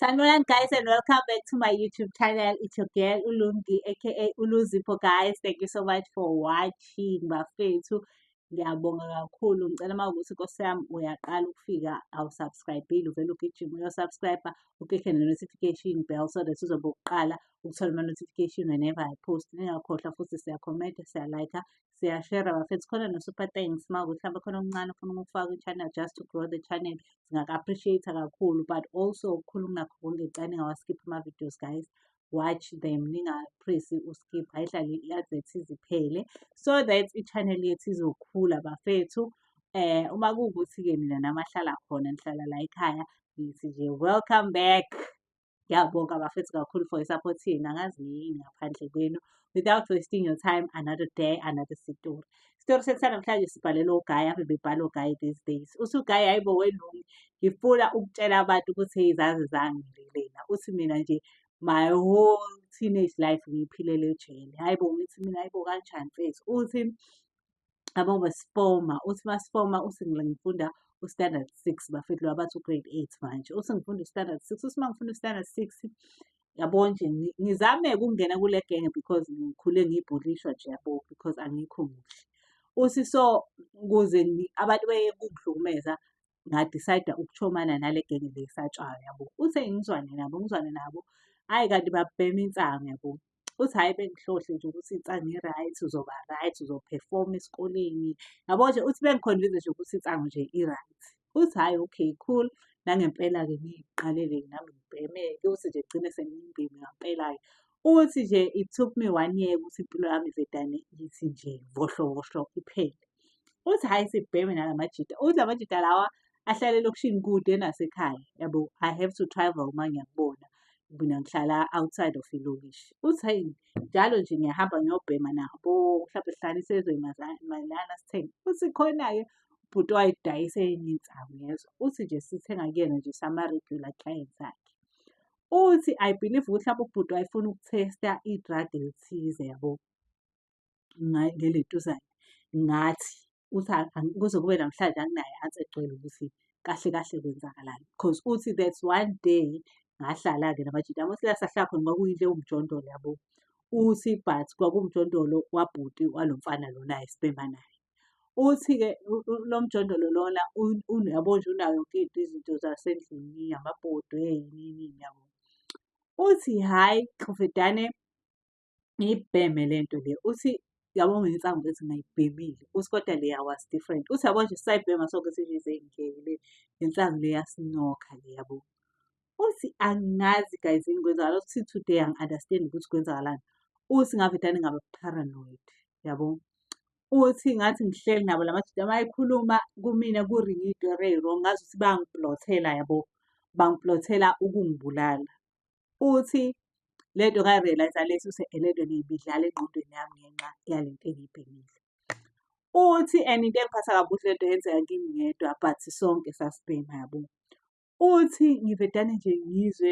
Sanibonani guys and welcome back to my YouTube channel. It's your girl Ulungi aka Uluzipo guys. Thank you so much for watching bafethu. Ngiyabonga kakhulu. Ngicela uma ukuthi Nkosi yami uyaqala ukufika awusubscribile uvele ugijima uyosubscribe uklikhe ne-notification bell so that uzobe uqala ukuthola ama-notification whenever I post. Ningakhohlwa futhi siyakhomenta, siyalike, siyashera bafethu khona no-super thanks uma ukuthi hlampe khona okuncane ufuna ukufaka i-channel just to grow the channel singaka-appreciate-a kakhulu but also okukhulu kunakho konke cani ngawaskipha ama-videos guys watch them ningapresi uskip ayihlale i-advert iziphele so that i-channel yethu izokhula bafethu eh uma kuwukuthi-ke mina namahlala khona nihlala la ekhaya ngithi nje welcome back Ngiyabonga bafethu kakhulu for i-support yenu angazi yini ngaphandle kwenu. Without wasting your time, another day, another story. Isitori sethu sanamhlanje sibhalelwe ugayi, ave bebhala ugayi these days. Uthi ugayi hhayi bo welungu, ngifuna ukutshela abantu ukuthi hey zaze zangililena. Uthi mina nje my whole teenage life ngiyiphilele ejele. Hhayi bo ngithi mina hhayi bo kanjani mfethu. Uthi abo besifoma uthi masifoma uthi ngifunda u-standard six bafethu laba bathi u-grade eight manje uthi ngifunda u-standard six uthi uma ngifunda u-standard six yabo nje ngizame ukungena kule genge because ngikhule ngibhulishwa nje yabo because angikho muhle uthi so kuze abantu beye kungihlukumeza ngadicide ukuchomana nale genge le esatshwayo yabo. Uthe ngizwane nabo ngizwane nabo, hhayi kanti babhema insangu yabo. Uthi hhayi bengihlohle nje ukuthi insangu i-right, uzoba right, uzophefoma esikoleni. Yabo nje uthi bengikhonvize nje ukuthi insangu nje i-right. Uthi hhayi okay cool, nangempela-ke ngiyiqalele nami ngibheme-ke, uthi nje kugcine sengiyimbimi ngampela-ke. Uthi nje it took me one year ukuthi impilo yami ivedane ithi nje vohlovohlo iphele. Uthi hhayi sibheme nala majita. Uthi la majita lawa ahlale elokishini kude nasekhaya yabo I have to travel uma ngiyakubona mina ngihlala outside of ilokishi. Uthi hhayi njalo nje ngiyahamba ngiyobhema nabo mhlawumbe sihlale isezwe malana sithenge. Uthi khona-ke ubhuti owayedayisa enye insangu yezwa. Uthi nje sithenga kuyena nje sama-regular clients akhe. uthi I believe ukuthi lapho ubhuti wayefuna ukutesta i-drug elithize yabo ngeletuzane ngathi uthi kuze kube namhlanje anginayo ansi egcwele ukuthi kahle kahle kwenzakalani because uthi that's one day ngahlala-ke namajita amosilasa hlakho noma kuyinto ewumjondolo yabo uthi but kwakumjondolo wabhuti walo mfana lona ayesibhema naye. Uthi-ke lo mjondolo lona uyabo nje unayo yonke into izinto zasendlini, amabhodwe yini yini yabo. Uthi hhayi qhufudane ngiyibheme le nto le. Uthi yabo ngensangu ukuthi ngayibhemile. Uthi kodwa leya was different. Uthi yabo nje sisayibhema sonke sithi nje seyingeke le ngensangu le yasinokha le yabo. uthi angazi guys yini kwenzakala uthi today angi-understand ukuthi kwenzakalani uthi ngavedane ngaba paranoid yabo uthi ngathi ngihleli nabo la madoda mayikhuluma kumina kuringa idore wrong ngazi ukuthi bangiplothela yabo bangiplothela ukungibulala uthi le nto ngayi-realize lesi use le nto ngiyibidlala engqondweni yami ngenxa yale nto engiyibhekile uthi and into engiphatha kabuhle le nto yenzeka kimi ngedwa but sonke sasibhema yabo Uthi ngivedane nje ngizwe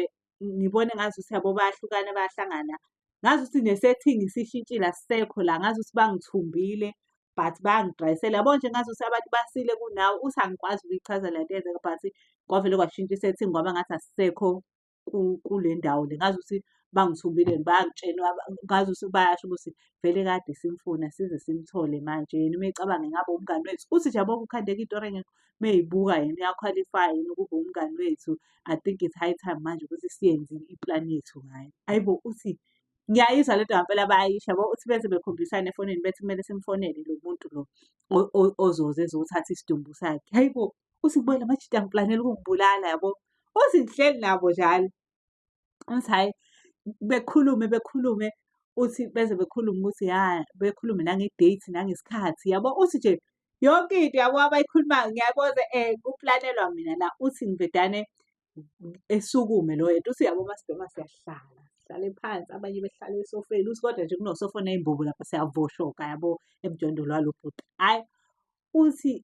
ngibone ngazuthi yabo bayahlukana bayahlangana. Ngazuthi nesethingi sishintshile asisekho la, ngazuthi bangithumbile but bangidayisela. Yabo nje ngazuthi abantu basile kunawe, uthi angikwazi ukuyichaza le nto eyenzeka but kwavele kwashintsha isethingi kwaba ngathi asisekho kule ndawo le. Ngazuthi bangithumbile bangitshela ngazuthi bayasho ukuthi vele kade simfuna size simthole manje. Yena uma ecabanga ingabe umngani wethu. Uthi nje yabo kukhandeka into or engekho. meyibuka yena uyakhwalifaya yini ukuba umngani wethu i think it's high time manje ukuthi siyenze iplan yethu ngayo ayibo uthi ngiyayizwa le nto ngampela bayayisho yabo uthi beze bekhombisane efonini bethi kumele simfonele lo muntu lo o- o- ozoze ezothatha isidumbu sakhe hayi bo uthi kubuyela manje angiplanela ukungibulala yabo uzinhleli nabo njalo Ngithi hhayi bekhulume bekhulume uthi beze bekhulume ukuthi ya bekhulume nange-date nangesikhathi yabo uthi nje yonke into yabo abayikhulumayo ngiyaboza um eh, kuplanelwa mina la uthi ngivedane esukume loyo yena uthi yabo masibhema siyahlala sihlale phansi abanye behlale esofeni uthi kodwa nje kunosofona imbubu lapha siyavoshoka yabo emjondolo walo bhuti hhayi uthi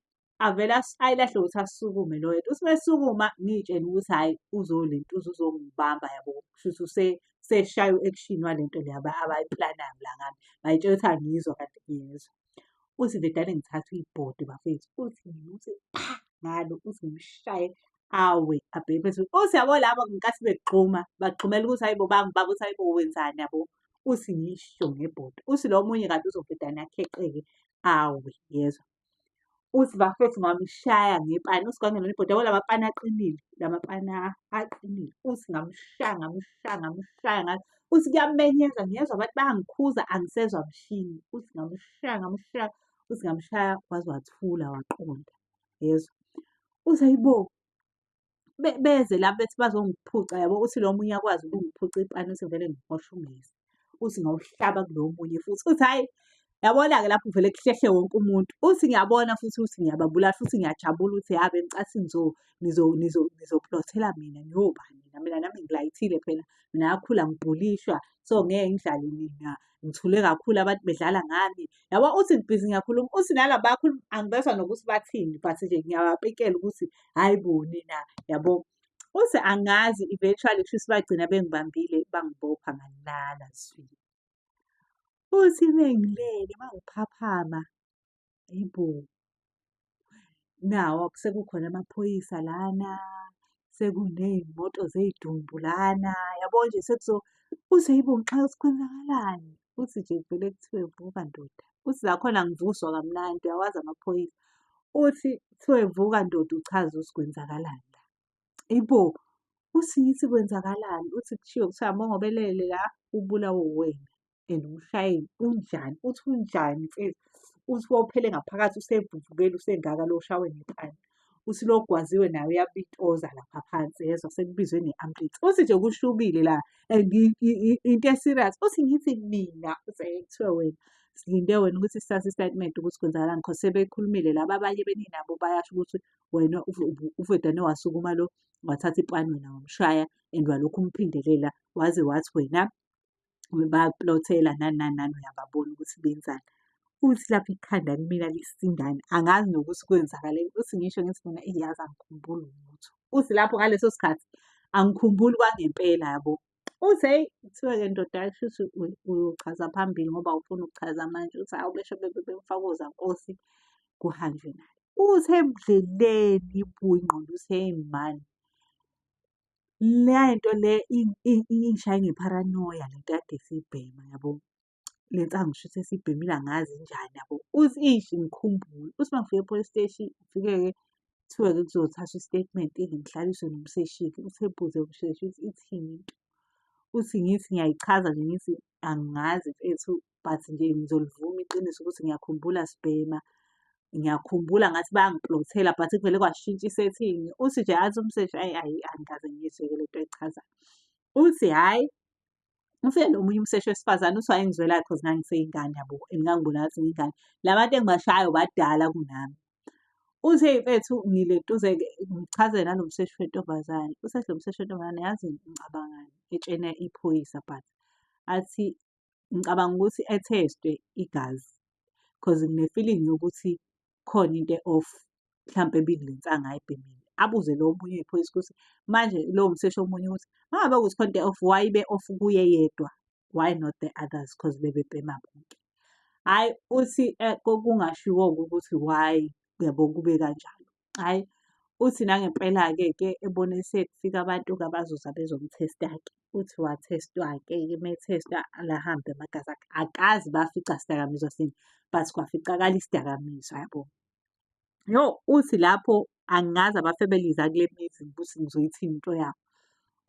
avele ayilahle ukuthi asukume lo yedwa uthi mesukuma ngiyitshela ukuthi hhayi uzolentuza uzongibamba yabo kushuthi use seshaya u-action walento le abayiplanayo la ngami ngayitshela ukuthi angiyizwa kanti ngiyezwa uthi nje dane ngithatha uyibhodi bafethu uthi ngimuthi pha ngalo uthi ngimshaye awe abheke phezulu uthi yabo labo ngenkathi begxuma bagxumela ukuthi hayibo bangibaba ukuthi hayibo wenzani yabo uthi ngisho ngebhodi uthi lo munye kanti uzobhedane akheqeke awe yezwa uthi bafethu ngamshaya ngepani uthi kwangelona ibhoda yabo lamapani aqinile lamapani aqinile uthi ngamshaya ngamshaya ngamshaya ngathi uthi kuyamenyeza ngiyezwa abantu bayangikhuza angisezwa mshini uthi ngamshaya ngamshaya uthi ngamshaya waze wathula waqonda yezwa uthi ayibo beze la bethi bazongiphuca yabo uthi lo munye akwazi ukungiphuca ipani uthi vele ngihosha ungezi uthi ngawuhlaba kulo munye futhi uthi hhayi yabona-ke lapho vele kuhlehle wonke umuntu uthi ngiyabona futhi uthi ngiyababulala futhi ngiyajabula ukuthi yabe ngicathi nizoplothela mina ngiyobani mina mina nami ngilayithile phela mina yakhula ngibhulishwa so ngeke ngidlale mina ngithule kakhulu abantu bedlala ngami yabo uthi ngibhizi ngiyakhuluma uthi nala bakhuluma angibezwa nokuthi bathini but nje ngiyabapikela ukuthi hayi bo nina yabo uthi angazi eventually kushuthi bagcina bengibambile bangibopha ngalala zwi uthi mengilele mangiphaphama Yebo. Nawa sekukhona amaphoyisa lana, sekuney'moto zey'dumbu lana, yabo nje sekuzo uze yibo ngixaka ukuthi kwenzakalani. Uthi nje kuvele kuthiwe vuka ndoda. Uthi nakhona ngivuswa kamnandi, uyawazi amaphoyisa. Uthi kuthiwe vuka ndoda uchaze ukuthi kwenzakalani la. Yebo. Uthi ngithi kwenzakalani, uthi kushiwo kuthiwa mongobelele la, ubulawe uwena. and umshayeli unjani uthi unjani mfethu uthi wophele ngaphakathi usevuvukele usengaka lo shawe ngepani uthi lo gwaziwe naye uyabitoza lapha phansi yezwa sekubizwe nge-ambulance uthi nje kushubile la and i- i- i- into eserious uthi ngithi mina uthi "Hhayi, kuthiwe wena silinde wena ukuthi sithathe isitatimende ukuthi kwenzakalani cause sebekhulumile laba abanye beninabo bayasho ukuthi wena uve- uve- uvedane wasukuma lo wathatha ipani wena wamshaya and walokhu umphindelela waze wathi wena baplothela nani nani nani uyababona ukuthi benzani. Uthi lapha ikhanda kumina lisindani angazi nokuthi kwenzakaleni. Uthi ngisho ngithi mina eyi yazi angikhumbuli lutho. Uthi lapho ngaleso sikhathi angikhumbuli kwangempela yabo. Uthi hheyi kuthiwa-ke ndoda kushuthi uyochaza phambili ngoba awufuni ukuchaza manje. Uthi hhawu besho bemfaka ozankosi kuhanjwe naye. Uthi ebudleleni ibuya ingqondo uthi hheyi mani Le nto le ingishaya ngepharanoya le nto ekade siyibhema yabo. Le nsangu shuthi esiyibhemile angazi injani yabo. Uthi eish ngikhumbule, uthi uma ngifika e-police steshi ngifike-ke kuthiwe-ke kuzothathwa i-statement-ke ngihlaliswe nomseshi-ke. Uthi ebuze umseshi ukuthi ithini into. Uthi ngithi ngiyayichaza nje ngithi angazi mfethu but nje ngizolivuma iqiniso ukuthi ngiyakhumbula sibhema ngiyakhumbula ngathi bayangiplothela but kuvele kwashintsha isetting uthi nje athi umseshi ayi ayi angikaze ngiyizweke lento echazayo uthi hhayi ufike nomunye umseshi wesifazane uthi wayengizwelayo because ngangiseyingane yabo and ngangibona ngathi ngiyingane la bantu engibashayo badala kunami uthe mfethu ngiletuze ngichazele nalo mseshi wentombazane usethi lo mseshi wentombazane yazi ngicabangani etshena iphoyisa but athi ngicabanga ukuthi ethestwe igazi cause ngine-feeling yokuthi khona into e-off mhlampe ebile le nsanga ayibhemile. Abuze lo omunye oyiphoyisa ukuthi manje lowo mseshi omunye ukuthi uma ngabe ukuthi khona into e-off why ibe-off kuye yedwa why not the others cause bebebhema bonke. Hhayi uthi kungashiwo-ke ukuthi why yabo kube kanjalo. Hhayi, uthi nangempela-ke ke ebone sekufika abantu kabazoza bezomthesta-ke. Uthi wathestwa-ke ke methestwa lahambe amagazi akhe. Akazi bafica sidakamizwa sini, but kwaficakala isidakamizwa yabo. Yo, uthi lapho angazi abafebeliza kule mizi ukuthi ngizoyithini into yabo.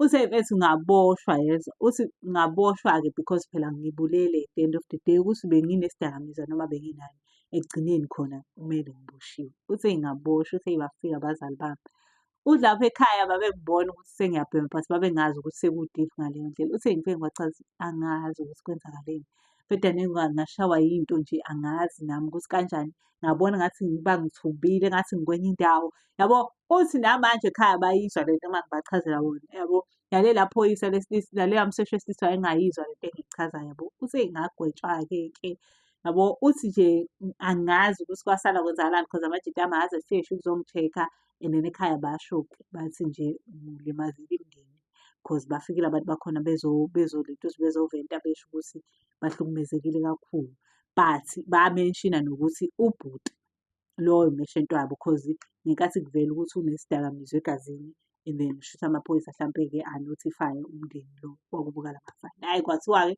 Use ethi ngaboshwa yezwa, uthi ngaboshwa-ke because phela ngibulele at the end of the day ukuthi benginesidakamizwa noma benginani. Ekugcineni khona kumele ngiboshiwe. Uthe ngaboshwa, uthe bafika abazali bami. Uthi lapha ekhaya babengibona ukuthi sengiyabhema but babengazi ukuthi seku-deep ngaleyo ndlela. Uthe ngifike ngibachaza angazi ukuthi kwenzakaleni. Ngibheda ngashawa yinto nje angazi nami ukuthi kanjani ngabona ngathi ngiba ngithumbile ngathi ngikwenye indawo yabo uthi namanje ekhaya bayizwa le nto uma ngibachazela wona yabo yalela phoyisa lesilisa lalela mseshi wesilisa wayengayizwa le nto engiyichazayo yabo uthi ngagwetshwa-ke ke yabo uthi nje angazi ukuthi kwasala kwenzakalani because amajita ami aze afike sho ukuzongi-check-a and then ekhaya basho-ke bathi nje ulimazile imndeni because bafikile abantu bakhona bezoleta ukuthi bezoventa besho ukuthi bahlukumezekile kakhulu. But bamenshina nokuthi ubhuti loyo umeshenti wabo cause ngenkathi kuvela ukuthi unesidakamizwa egazini and then shuthi amaphoyisa hlampe-ke anotify umndeni lo wakubuka la mafayela. Hhayi kwathiwa-ke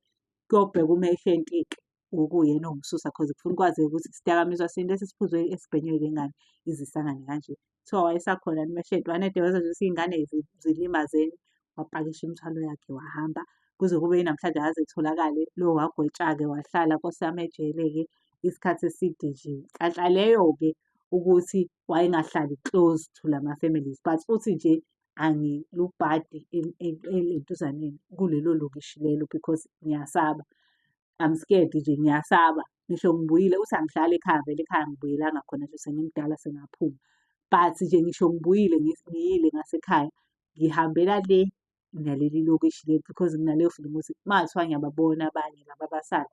kuyobheka umeshenti-ke wokuyena owumsusa cause kufuna ukwazeka ukuthi isidakamizwa sini lesi esiphuzwe esibhenywe-ke ngani izisangane kanje. kuthiwa wayesakhona yini umeshedi wanede wezwa nje ukuthi iy'ngane zi- zilimazeni wapakisha imithwalo yakhe wahamba kuze kube yinamhlanje akaze etholakale lo wagwetshake wahlala nkosi yami ejele-ke isikhathi eside nje nhlanhla leyo-ke ukuthi wayengahlali close to lama families but uthi nje angilubhadi entuzaneni kulelo lokishi lelo because ngiyasaba I'm scared nje ngiyasaba ngisho ngibuyile uthi angihlali ekhaya vele ekhaya ngibuyelanga khona nje sengimdala sengaphuma but nje ngisho ngibuyile ngiyile ngasekhaya ngihambela le naleli lokishi leli because nginaleyo feeling ukuthi mathiwa ngiyababona abanye laba abasala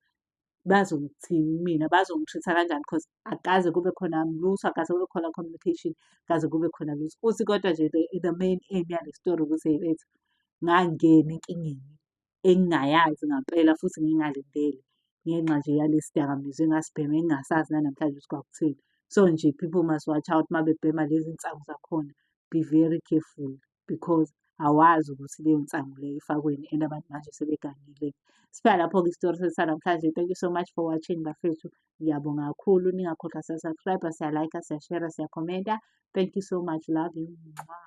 bazongithini mina bazongitreat-a kanjani because akaze kube khona lutho akaze kube khona communication kaze kube khona lutho uthi kodwa nje the main aim yale story ukuthi hey bethu ngangena enkingeni engingayazi ngampela futhi ngingalindele ngenxa nje yalesi dakamizwa engasibhema engingasazi nanamhlanje ukuthi kwakuthini. So nje people must watch out uma bebhema lezi nsangu zakhona be very careful because awazi ukuthi leyo nsangu leyo ifakweni and abantu manje sebegangile. Siphela lapho-ke isitori sethu sanamhlanje. Thank you so much for watching bafethu. Ngiyabonga kakhulu ningakhohlwa siya-subscribe, siya-like, siya-share, siya-commenta. Thank you so much. Love you. Mwah.